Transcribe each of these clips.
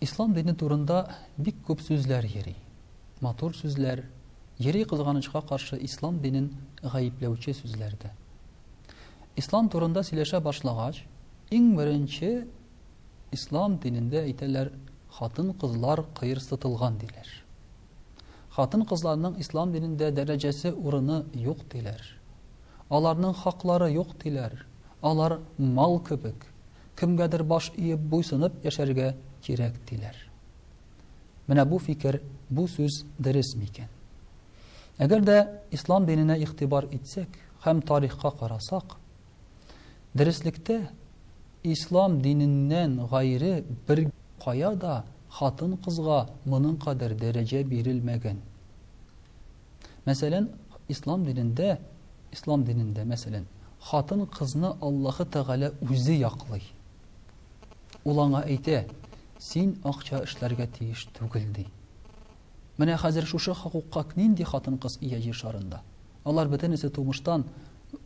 Ислам дине турында бик күп сүзләр йөри. Матур сүзләр, йөри кызганычка каршы ислам динен гаепләүче сүзләр дә. Ислам турында сөйләшә башлагач, иң беренче ислам динендә әйтәләр, хатын-кызлар кыерсытылган диләр. Хатын-кызларның ислам динендә дәрәҗәсе, урыны юк диләр. Аларның хаклары юк диләр. Алар мал кебек, кемгәдер баш иеп, буйсынып яшәргә кирәк диләр. Менә бу фикер, бу сүз дөрес микән? Әгәр дә ислам диненә игътибар итсәк һәм тарихка карасак, Дөреслектә, ислам диненнән гайре бер кая да хатын-кызга моның кадәр дәрәҗә бирелмәгән. Мәсәлән, ислам динендә, ислам динендә, мәсәлән, хатын-кызны Аллаһы Тәгалә үзе яклый. Ул аңа әйтә, син акча эшләргә тиеш түгел, ди. Менә хәзер шушы хокукка нинди хатын-кыз ия Җир шарында? Алар бөтенесе тумыштан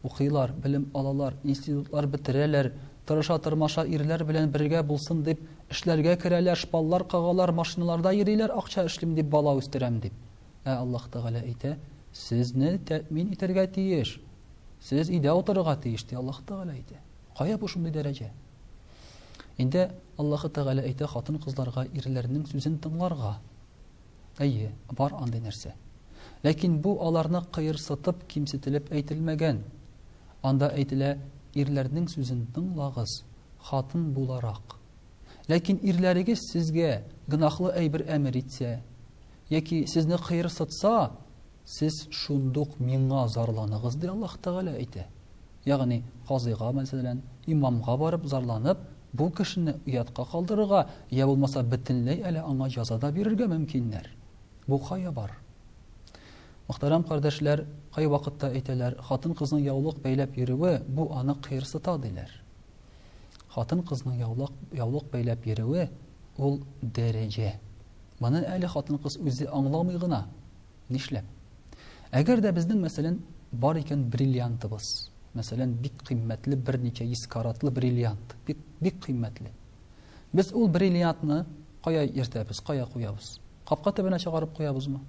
укыйлар, белем алалар, институтлар бетерәләр, тырыша-тырмаша ирләр белән бергә булсын дип, эшләргә керәләр, шпаллар кагалар, машиналарда йөриләр, акча эшлим дип, бала үстерәм дип. Ә Аллаһ Тәгалә әйтә, Сезне тәэмин итәргә тиеш. Сез өйдә утырырга тиеш, ди Аллаһ Тәгалә әйтә. Кая бу шундый дәрәҗә? Инде Аллаһы Тәгалә әйтә хатын-кызларга ирләрнең сүзен тыңларга. Әйе, бар андый нәрсә. Ләкин бу аларны кыерсытып, кимсетелеп әйтелмәгән. Анда әйтелә, ирләрнең сүзен тыңлагыз, хатын буларак. Ләкин ирләрегез сезгә гөнаһлы әйбер әмер итсә, яки сезне кыерсытса, Сез шундук миңа зарланыгыз, ди Аллаһ Тәгалә әйтә. Ягъни, казыйга, мәсәлән, имамга барып зарланып, бу кешене оятка калдырырга, я булмаса бөтенләй әле аңа җаза да бирергә мөмкиннәр. Бу кая бар? Мөхтәрәм кардәшләр, кай вакытта әйтәләр, хатын-кызның яулык бәйләп йөрүе, бу аны кыерсыта, диләр. Хатын-кызның яулык, яулык бәйләп йөрүе, ул дәрәҗә. Моны әле хатын-кыз үзе аңламый гына. Нишләп? Әгәр дә безнең, мәсәлән, бар икән бриллиантыбыз, мәсәлән, бик кыйммәтле берничә йөз каратлы бриллиант, бик, бик кыйммәтле. Без ул бриллиантны кая йөртәбез, кая куябыз? Капка төбенә чыгарып куябызмы?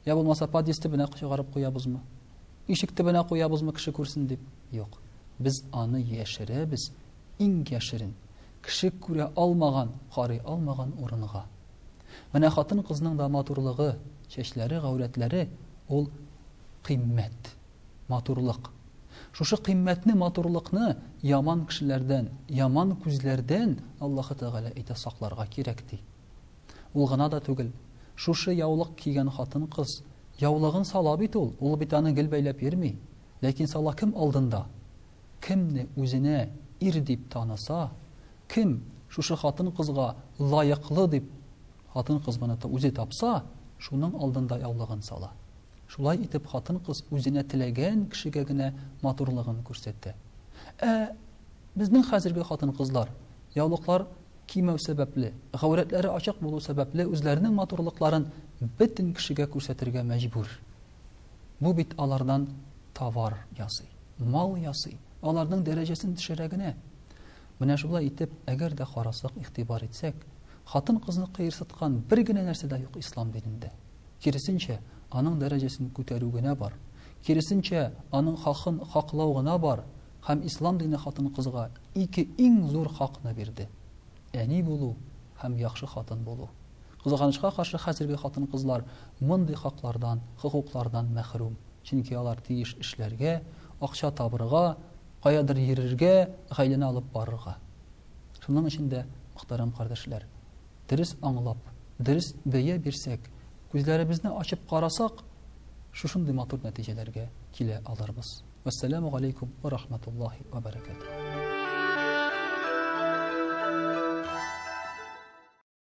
Я булмаса подъезд төбенә чыгарып куябызмы? Ишек төбенә куябызмы кеше күрсен дип? Юк. Без аны яшерәбез иң яшерен. Кеше күрә алмаган, карый алмаган урынга. Менә хатын-кызның да матурлыгы, чәчләре, гаурәтләре, ул кыйммәт, матурлык. Шушы кыйммәтне, матурлыкны яман кешеләрдән, яман күзләрдән Аллаһы Тәгалә әйтә сакларга кирәк ди. Ул гына да түгел, шушы яулык кигән хатын-кыз яулыгын сала бит ул, ул бит аны гел бәйләп йөрми, ләкин сала кем алдында? Кемне үзенә ир дип таныса, кем шушы хатын-кызга лаеклы дип хатын-кыз моны үзе тапса, шуның алдында яулыгын сала. Шулай итеп хатын-кыз үзенә теләгән кешегә генә матурлыгын күрсәтә. Ә безнең хәзерге хатын-кызлар яулыклар кимәү сәбәпле, гаурәтләре ачык булу сәбәпле үзләренең матурлыкларын бөтен кешегә күрсәтергә мәҗбүр. Бу бит алардан товар ясый, мал ясый. Аларның дәрәҗәсен төшерә генә. Менә шулай итеп, әгәр дә карасак, игътибар итсәк, хатын-кызны кыерсыткан бер генә нәрсә дә юк ислам динендә. Киресенчә, аның дәрәҗәсен күтәрү генә бар. Киресенчә, аның хакын хаклау гына бар. Һәм ислам дине хатын-кызга ике иң зур хакны бирде. Әни булу һәм яхшы хатын булу. Кызганычка каршы, хәзерге хатын-кызлар мондый хаклардан, хокуклардан мәхрүм. Чөнки алар тиеш эшләргә, акча табырга, каядыр йөрергә, гаиләне алып барырга. Шуның өчен дә, мөхтәрәм кардәшләр, дөрес аңлап, дөрес бәя бирсәк, күзләребезне ачып карасак, шушындый матур нәтиҗәләргә килә алырбыз. Вәссәламү галәйкүм вә рахмәтуллаһи вә бәрәкәтүһ.